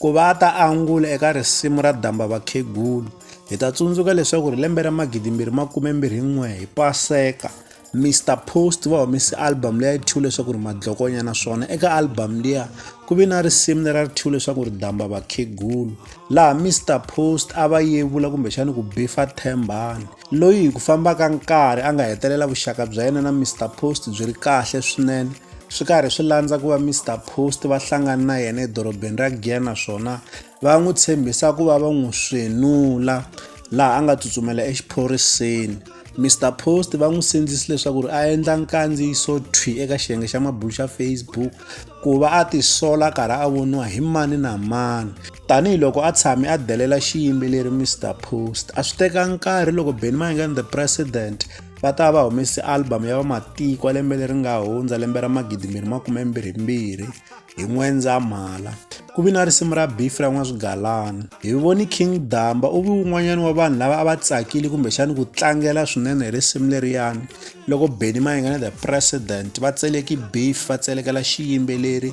ku va a ta angula eka risimu ra damba vakhegulu hi ta tsundzuka leswaku ri lembe ra magidimbirhi makumembirhin'we hi paseka mr post va humese album leya yi thyiwe leswaku ri madlokonya naswona eka album liya ku ve na risimu leri a ri thyiwe leswaku ri damba vakhegulu laha mr post a va yevula kumbexani ku bifa thembani loyi hi ku famba ka nkarhi a nga hetelela vuxaka bya yena na mr post byi ri kahle swinene swi karhi swi landza ku va Mr Post va hlangana na yena edorobeni ra Giyani naswona va n'wi tshembisa ku va va n'wi swenula laha a nga tsutsumela exiphoriseni Mr Post va n'wi sindzisi leswaku ri a endla nkandziyiso thwi eka xiyenge xa mabulu xa Facebook ku va a tisola karhi a voniwa hi mani na mani Tanihi loko a tshame a delela xiyimbeleri Mr Post, a swi teka nkarhi loko Benny Mayengani the President va ta va humese album ya vamatiko ya lembe leri nga hundza lembe ra magidi mbirhi makume mbirhi mbirhi hi n'wendzamhala ku vi na risimu ra beef ra n'waswigalana hi voni king damba u vi wun'wanyana wa vanhu lava a va tsakile kumbexani ku tlangela swinene hi risimu leriyani loko benny mayengana the president va tseleki beef va tselekela xiyimbeleri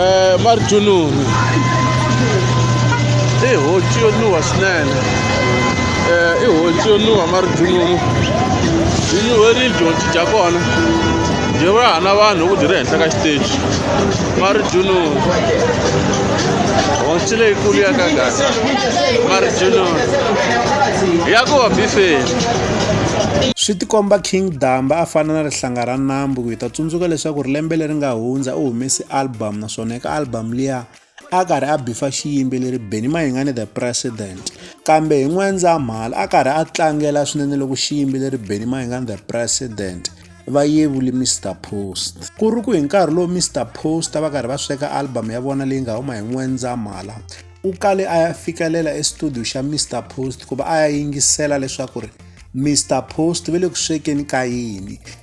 eh, marjununu i honci yo nuha swinene eh, i honci yo nuha marjununu yi nyuherile dyonci dya kona byi va hana vanhu ku byi ri henhla ka xiteji marjununu honci leyikulu ya ka gana marjununu ya ku va bifeni swi tikomba king damba a fana na rihlanga ra nambu ku hi ta tsundzuka leswaku ri lembe leri nga hundza u humese album naswona eka album liya a karhi a bifa xiyimbeleri Benny Mayengani the President kambe hi N'wendzamhala a karhi a tlangela swinene loko xiyimbeleri Benny Mayengani the President va yevuli Mr Post ku ri ku hi nkarhi lowu Mr Post va karhi va sweka album ya vona leyi nga huma hi N'wendzamhala u kale a ya fikelela estudio xa Mr Post ku va a ya yingisela leswaku ri Mr Post ve le ku swekeni ka yini